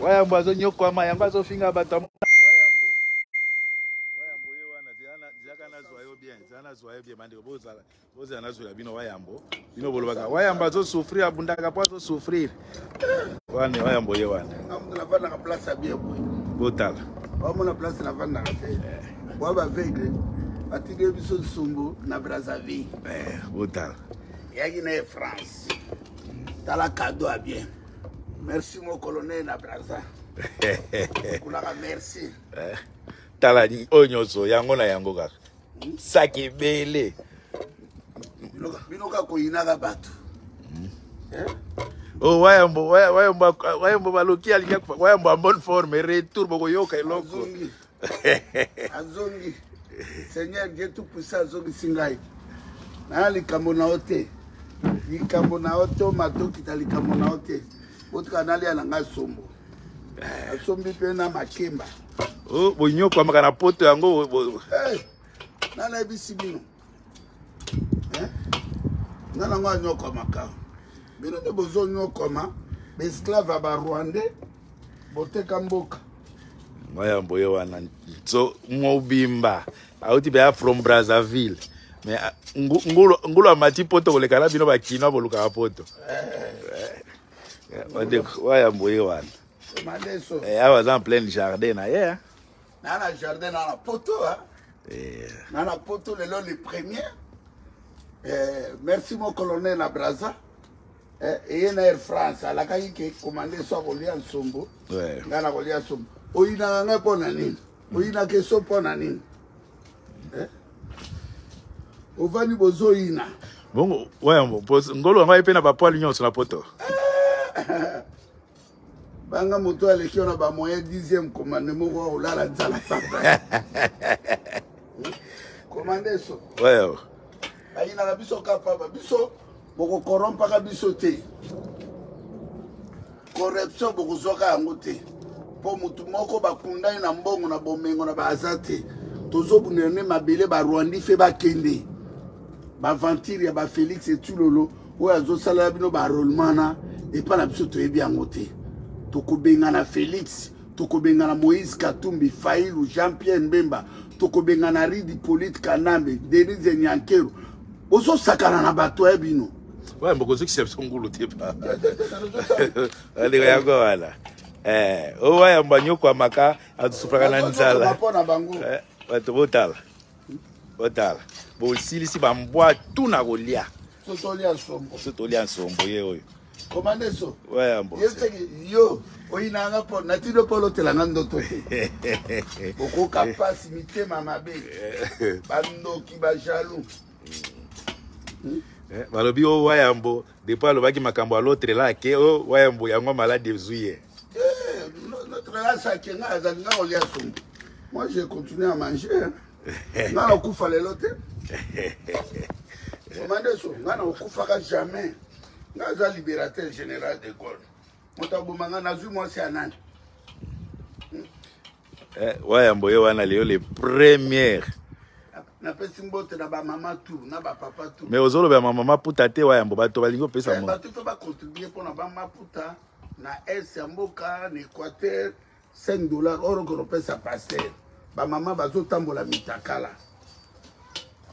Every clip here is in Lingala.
wayambo azonyokwama yango azofinga bato ya bozala nazwela bino wayambo bino bolobaka wayambo azosouffrir abundaka mpo azosouffrir wana wayambo ye wana botala bamona place navandaka te bwa baveugle batiki ye biso nsumbu na brazzaville botala eyaki na ye france tala kado ya bien merci mon colonel na braza kulaka merci eh, tala oyo nyonso yango na yango kaka hmm? saki ebele bino kaka koyinaka bato hmm? eh? Oh, wayambo wayambo wayambo baloki alingi wayambo en bonne forme retour bokoyoka eloko azongi seigneur dieu tout puissant azongisi ngai naya likambo na yo te likambo na yo to matokita likambo na yo te botika nalia na ngai sombo asombi mpe na makemba oh, bonyokwamaka na poto yango eh, nana yebisi bino eh? nga nango anyokwama ka bino nde bozonyokwama baesclave ya barwandais boteka mboka mayambo ye wana so mobimba auti mpenza from brazzaville mais ah, ngulu amati poto koleka na bino bakinois bolukaka poto wayambo eh. eh, ye wana eh, awa aza en pleine jardin na ye na na jardin na na poto hein? Eh. na na poto lelo le premier eh, merci mon colonel na braza eh, eye na air france alakaki ke commande so akolia nsombo ngai nakolia nsombo oyinaka ngai mpo na nini oyinaka eso mpo na nini eh? ovandi bozoyina bongo wayambo ngolo yango aye mpe na bapoile nyonso na poto banga moto aleki wana bamoyen dixième commande moko akolala nzala papa komanda eso bayinaka biso ka papa biso bokokorompaka biso te corruption bokozwaka yango te mpo motu moko bakunda ye na mbongo na bomengo na baaza te tozobundela nde mabele barwandi fe bakende baventure ya bafelix etulolo oyo azosalela bino barolema na epa na biso toyebi yango te tokobengana félix tokobengana moïse katumbi failu jean pierre mbemba tokobengana ridi polite kanambe denise nyankero ozosakana na bato ya bino oyo bokozokisa biso ngulu te aleka yango wana eh, oyo ayamba nyokwamaka atusufaka na nzala bato eh, botala otala bosilisi bambwa tu na kolia so tolia nsombo ye oyo komandeso yo oyinanga mpo natino mpo olotelanga ndoto te okoka mpasi mitema mabe bandoki bajalou hmm? eh, balobi owa yambo Depuis alobaki makambo ya l'autre là ke o oh, wayambo yango malade ezui ye. Eh, notre là ça ke nga azali nga olia sombo. Moi j'ai continué à manger. Nga na kufa lelo te. Omande so nga na kufaka jamais. Nga aza libérateur général de Gaulle. Moto aboma nga nazui mwasi ya nani? eh, wayambo ye wana leyo le première napesi mbote na bamama tu na bapapa tu mais ozoloba ya mama maputa te wayambo bato balingi opesa eh, mo bato mpe bacontribue mpo na bamaputa na est ya mboka na équateur 5 dollar oro konopesa paster bamama bazotambola mitakala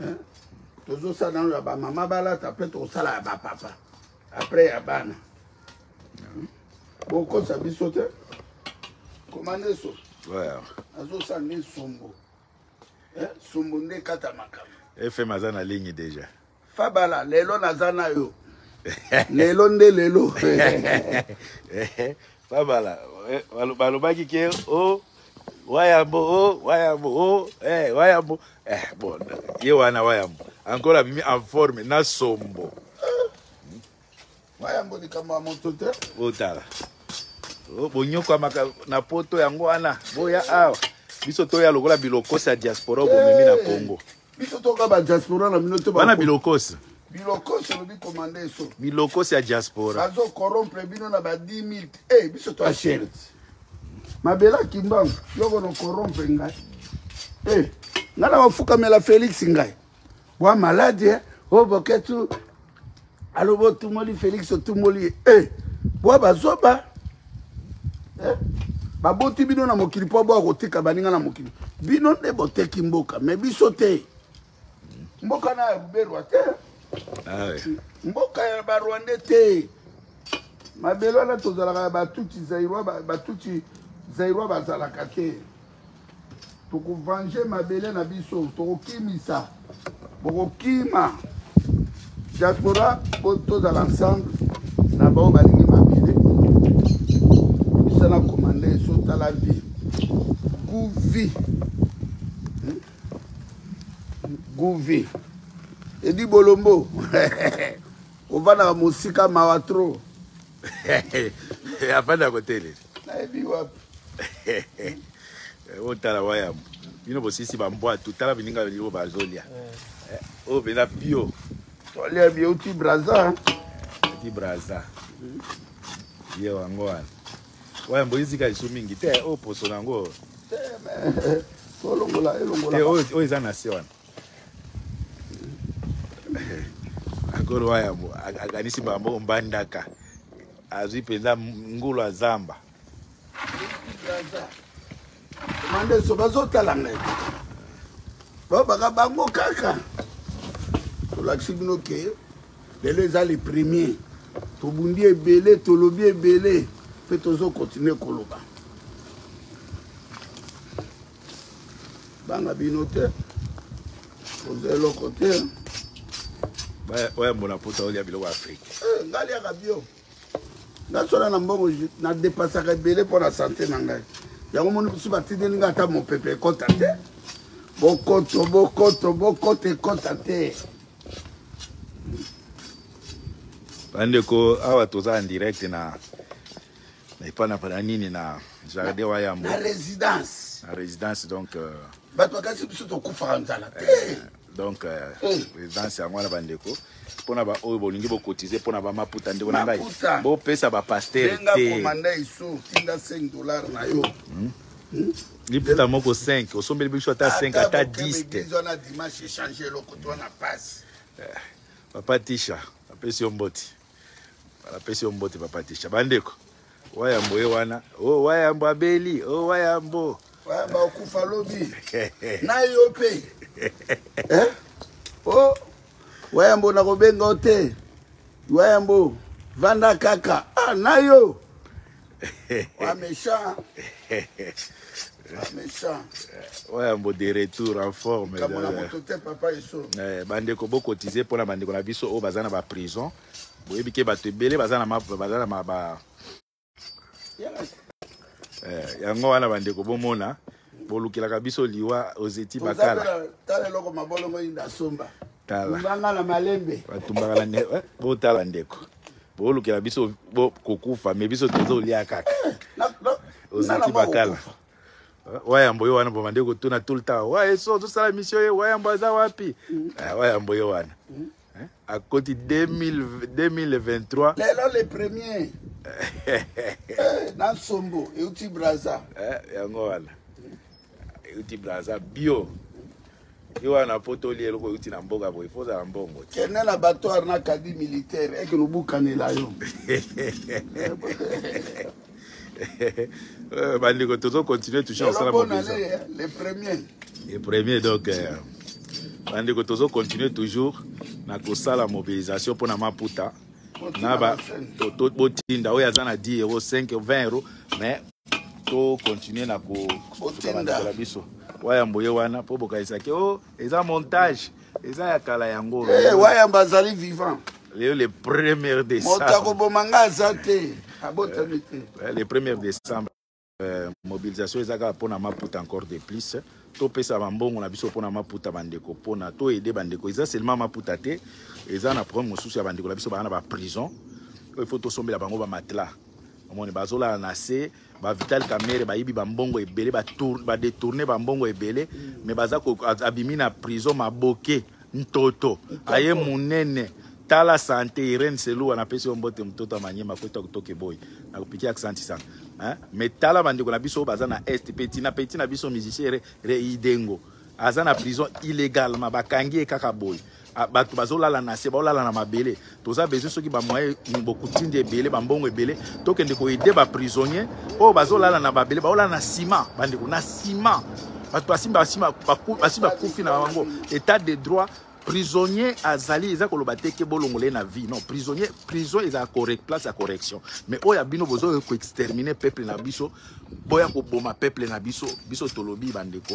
eh? tozosala nano ya bamama balata mpe tokosala ya bapapa apres ya bana hmm? bokosa biso te komandeso azosala nde sombo eh, sombo nde kata makambo fm aza na ligne deja fabala lelo naza na yo lelo nde lelo fabala eh, balobaki ke o oh, wayambo o oh, wayambo o oh, eh, wayambo eh, bon ye wana wayambo encore abimi en forme na sombo Wa yango likambo ya moto te. Otala. Oh, bonyokwamaka na poto yango wana boya awa biso toya lokola bilokosi ya diaspora bomemi na congo biso toka badiaspora na bino te bana bilokosi bilokosi olobi komanda eso bilokosi ya diaspora bazo corrompre bino na ba 10 000 e biso to ashert mabela kimbangu yoko no corrompre ngai e ngai na bafukamela félix ngai wa maladi eh? o oh, boketu alobi otumoli félix otumoli ye e eh, bwa bazoba eh? baboti bino na mokili mpo bwa kotika baninga na mokili bino nde boteki mboka me biso te mboka na ya ruberwa te ah mboka ya barwande te mabele wana tozalaka ya batuti zairwa batuti zairwa bazalaka te tokovange mabele na biso tokokimisa bokokima diaspora po tozala ensemble na baoyo balingi mabele bisana komanda eso tala vie guvi hmm? guvi edi bolombo ovandaka mosika mawa trop afandaka koteleli nayebi wapi otala wayamu bino bosisi bambwatu tala bininga yo bazolia eh, oyo mpenza pio tolia bio ti braza ti braza ye wango wana wayambo oyizika lisu mingi te oyo oh, poso na yango tolongola elongola eh, oyo eza na se wana akolo wayambo akanisi bango mbandaka azwi mpenza ngulu ya zamba mandeso bazotala ngai babaka bango kaka tolakisi bino ke lelo eza le premier tobundi ebele tolobi ebele mpe tozokontinue koloba banga bino te oza eloko te oyambola mpota olia biloko ya afrike eh, ngai liaka bio nasola na mbongo nadepasaka ebele mpo na sante na ngai yango moni bisu batindeli ngai ata mopepe ekota te bokoto bokoto bokoto ekota te bandeko awa toza en direct na na epa na na nini na jardin wa yambo na résidence na résidence donc euh, bato bakasi biso tokufaka nzala te eh, donc euh, eh. résidence yango wana bandeko mpo na baoyo bolingi bokotize mpo na bamaputa ndeko na ngai bopesa bapaster te komanda iso tinda 5 dollar na yo hmm? Hmm? liputa moko 5 osombeli biso ata 5 ata 10 te papa tisha apesi yo mboti napesi yo mbote papa tisha bandeko wayambo ye wana o oh, wayambo abeli o oh, wayambo wayambo akufa lobi na yo mpe eh? o oh, wayambo nakobenga yo te wayambo vanda kaka ah, na yo Wamesha. Wamesha. Ouais, mbo de retour en forme. Kama na moto te papa iso. Eh, bande ko boko tize pona bande ko na biso o bazana ba prison. Boye bike ba te belé bazana ma bazana ma ba. Eh, yango wana bande ko bomona. bolukelaka biso liwa ozeti bakala tala eloko mabolongo inda somba talanga na malembe batumbaka na ndeko eh, botala ndeko bolukela biso kokufa me biso tozolia kaka ozeti bakala eh, wayambo ye wana bomande kotuna tout le temps waye so ozosala misio ye wayambo aza wapi mm. eh, wayambo ye wana mm. Hein? À côté 2023. Les là les premiers. Nansombo, Euti Braza. Eh, yango wana. Euti Braza bio. yo wana poto olie eloko euti na mboka boye mpo ozala mbongo kende na batoire na kadi militaire eke lobukanela yo Euh, bandeko tozo continue toujours kosala mobisa le premier le premier donc euh, bandeko tozo continue toujours na kosala mobilisation mpo na maputa na ba botinda oyo aza na 10 euro 5 20 euro mais to continue na kosuka bandeko na biso wayambo ye wana mpo bokanisaki o oh, eza montage eza ya kala yango hey, eh, wayamba azali vivant leo le premier décembre moto akoboma nga aza te abotami te eh, le premier décembre euh, mobilisation eza kaka mpona maputa encore de plus topesa bambongo na biso mpona maputa bandeko mpona toyede bandeko eza seulement maputa te eza na problème mosusu ya bandeko na biso baa na baprison oyo faut tosombela bango bamatela omoni bazolala na se ba vital kamere bayibi bambongo ebele badetourne ba bambongo ebele me baza abimi na prison maboke ntoto aye monene tala sante irene selua napesi yo mbote mototo ya manyema kota kotoka eboyi nakopiki aksanti sana me tala bandeko na biso oyo baza na est mpe tina mpe tina biso musicien reidengo aza na prison illegalement bakangi ye kaka boye Ah, bato bazolala na se baolala na mabele toza besoin soki bamoye bokutindi ebele bambongo ebele tokende koyede baprisonnier oyo bazolala na babele baolala na sima bandeko na sima bato basimba basi bakufi na bango état de droit prisonnier azali eza koloba te ke bolongola ye na vie non prisonnier prison eza place ya correction mais oyo ya bino bozoya koextermine peuple na biso boya koboma peuple na biso biso tolobi bandeko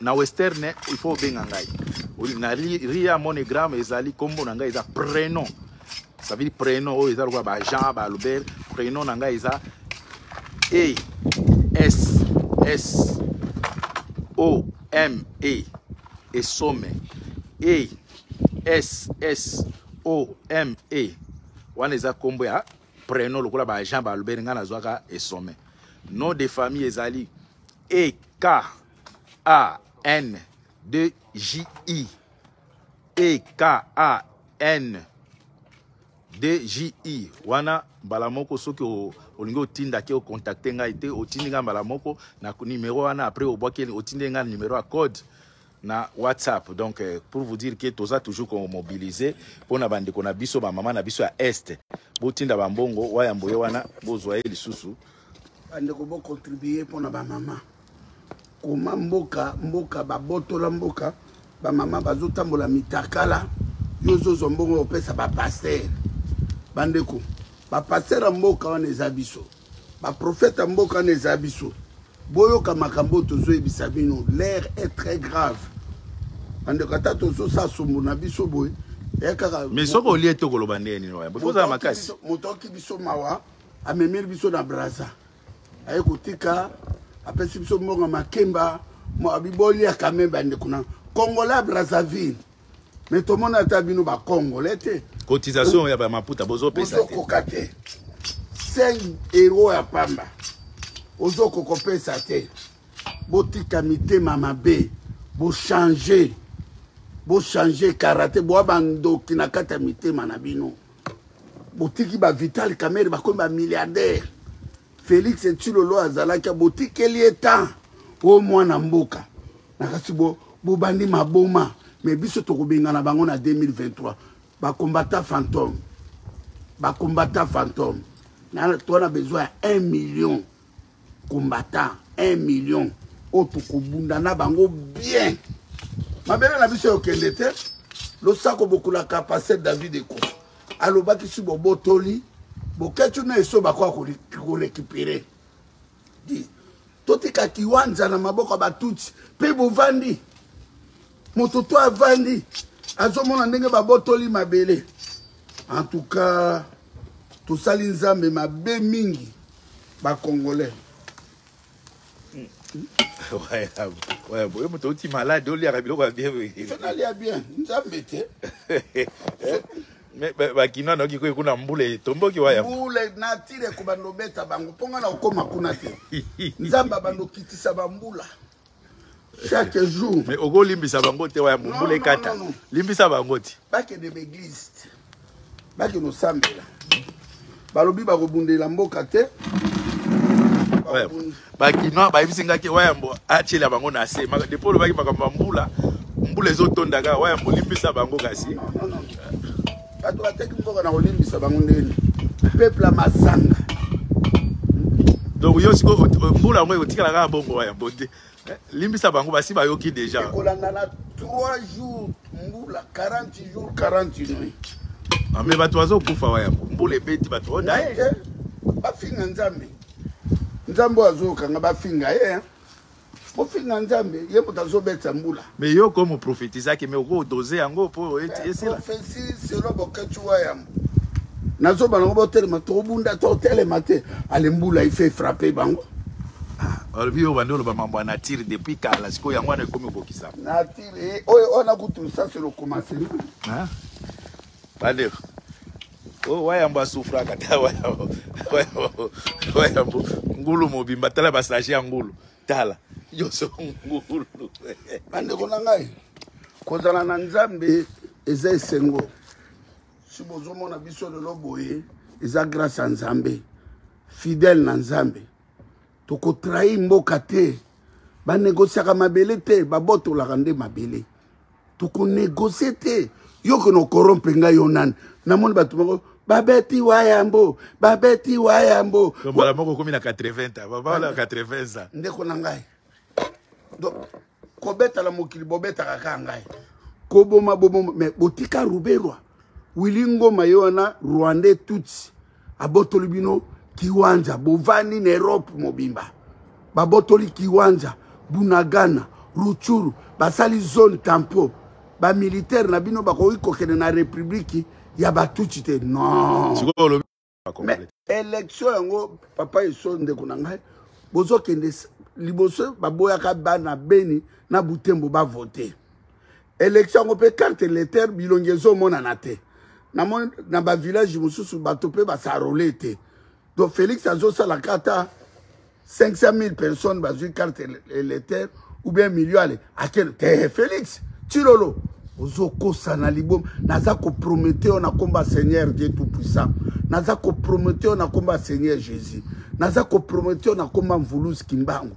na western il faut obenga ngai na ria monogramme ezali nkombo na ngai eza prenom ça veut dire prenom oyo eza lokola bajean baalbert prenom na ngai eza e s s o m e esome e s s o m e wana eza nkombo ya prenom lokola bajean baalbert ngai nazwaka esome nom de famille ezali E K A N D J I E K A N D J I wana mbala moko soki olingi otinda ke ocontacte ngai te otindi ngai mbala moko na numero wana après obwaki otindi ngai numero ya code na whatsapp donc euh, pour vous dire que toza toujours komobilize mpo na bandeko na biso bamama na biso ya est botinda bambongo wayambo ye wana bozwa ye lisusu bandeko bocontribue mpo na bamama koma mboka mboka babotola mboka bamama bazotambola mitakala yo ozozwa mbongo opesa bapastere bandeko bapastere ya mboka wana eza biso baprofete ya mboka wana eza biso boyoka makambo oyo tozoyebisa bino l'air est très grave bandeko ata tozosala sombo na biso boye eh, kaka mais soki olie te okoloba ndenge nini oya ozala makasi moto aoki biso mawa amemeli biso na braza aye kotika apesi biso mbongo makemba abiboliaka me bandeko na congolais brazzaville mais tomona ata bino bacongolais te cotisation ya bamaputa bozopesa te bozokoka te 5 euro ya pamba ozokoka kopesa te botika mitema mabe bochange bochange karate boa bandoki na kati ya mitema na bino botiki bavital kamere bakomi bamilliardaire félix tilolo azalaki botikeli ye temps o mwana mboka nakasi bobandi bo maboma mais biso tokobengana bango na 2023 bakombata fantome bakombata fantome toa na besoin ya 1 million kombata 1 million oyo tokobunda na bango bien mabele na biso yokende te losako bokulaka paster david eko alobaki si bobotoli boketuna eso bakoya korekipere totika kiwanza na maboko ya batutsi mpe bovandi moto to avandi azomona ndenge babotoli mabele en tout cas tosali nzambe mabe mingi bacongolais oyo moto outi malade oliaka biloko ya bien nalia bien nzambe te eh? bakinois nayoki kwe kuna mbula etomboki waya mbula natire kobanda obeta bango mpo ngai na okoma kuna te nzambe abanda okitisa bambula chaque jour mais okolimbisa bango te waya mbula ekata limbisa bango ti bakende baeglise te bakende osambela balobi bakobundela mboka te bakinois bayebisi ngaki wayambo atyela bango na se depo olobaki makambo ya mbula mbula ezotonda kaka wayambo olimbisa bango kasi bato bateki mboka na kolimbisa bango ndeni peuple ya masanga donc yo sikoyo mbula yango ekotikala kaka bongo wayambo te Eh, limbisa bango basi bayoki deja ekolandana 3 jours mbula 40 jours 40 nuit ah, me bato bazokufa wa yango mbula ebeti bato odaye eh, eh, bafinga nzambe nzambe oyo azokanga bafinga ye bofinga nzambe ye moto azobetisa mbula mais yo comme prophétisaki mais oko dose yango po esila prophétie selon boketshu wa yambo nazoba nango botelema tobunda totelema te ale mbula ife frappe bango olobi oyo bandi oloba mambo ya nature depuis kala sikoyo yango wana ekomi kokisa nature eh, oyo wana kutu sasi lokomase bandeko oyo wayambo asufraka ta wayambo ngulu mobimba tala basage ya ngulu tala yoso ngulu bandeko na ngai kozala na nzambe eza esengo si bozomona biso lelo boye eza grâce ya nzambe fidèle na nzambe tokotrahi mboka te banegosiaka mabele te babotolaka nde mabele tokonegocie te yo kona okorompe ngai yo nani namoni bato moko babeti wayambo babeti wayambo mbala moko okomi na 80 babala 80 ans ndeko na ngai donc kobetala mokili bobetaka kaka ngai koboma boboma mais botika ruberwa wili ngoma ye wana rwandais tutsi abotoli bino kiwanja bovandi na europe mobimba babotoli kiwanja bunagana ruchuru basali zone tampo bamilitaire na bino bakoki kokende na republiki ya batuti te non mais élection yango papa eso ndeko na ngai bozokende liboso baboyaka bana beni na butembo bavote election yango mpe carte leter bilongi ezomonana te namoni na bavillage mosusu bato mpe basarole te donc félix azosalaka ata 500 000 personnes bazwi carte leter ou bien million ale akende te félix tilolo ozokosa na liboma naza kopromete yo na komba seigneur dieu tout puissant naza kopromete yo na komba seigneur jésus naza kopromete yo na komba mvuluzi kimbangu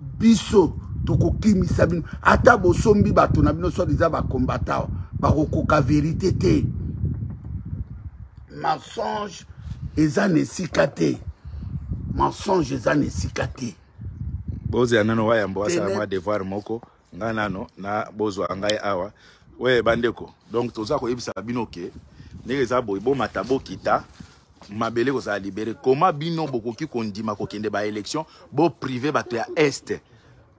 biso tokokimisa bino ata bosombi bato na bino soit eza bakombata bakokoka verite te mensonge eza na esika te mensonge eza na esika te bozela nano wayambo asala mwa devoir moko nga nano na bozwa ngai awa we bandeko donc toza koyebisa bino ke ndenge eza boye bomata bokita mabele kozala libere koma bino bokoki kondima kokende baélection boprive bato ya este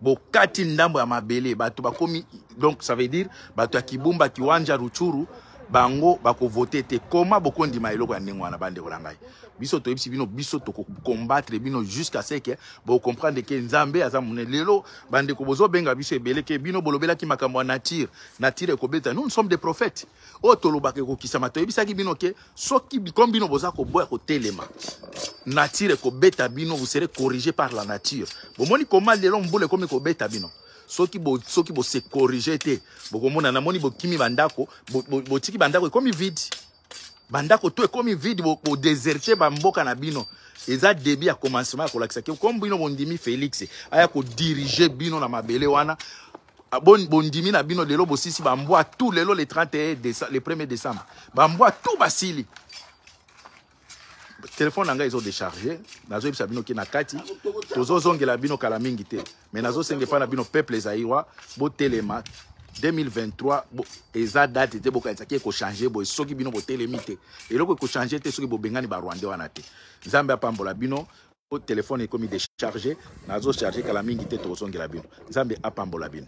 bokati ndambo ya mabele bato bakomi donc ça veut dire bato ya kibumba kiwanja ruchuru bango bakovote te koma bokondima eloko ya ndenge wana bandeko na ngai biso toyebisi bino biso tokokombatre bino jusqu'à ce que bocomprendre ke nzambe aza monene lelo bandeko bozobenga biso ebele ke bino bolobelaki makambo ya nature nature ekobeta nous nous sommes des prophètes oyo tolobaka ekokisama toyebisaki bino ke soki comme bino boza koboya kotelema nature ekobeta bino vous serez corrigé par la nature bomoni koma lelo mbula ekomi kobeta bino soki bo soki bo se corriger te bokomona namoni bokimi bandako botiki bo, bo bandako ekomi vide bandako to ekomi vide bodesertie bo bamboka na bino eza debi ya commencement ya kolakisa ke comme bino bondimi félix aya kodirige bino na mabele wana ah, bondimi na bino lelo bosisi bambwa tout lelo le 31 le 1er décembre bambwa tout basili telefone na ngai ezo decharge nazoyebisa bino ke na kati tozozongela bino kala mingi te me nazosenga epai na bino peuple zairwa botelema 2023 bo, eza date te bokanisa ke ekochange boye soki bino botelemi te eloko ekochange te soki bobengani barwandais wana te nzambe apambola bino po telefone ekomi decharge nazocharge kala mingi te tokozongela bino nzambe apambola bino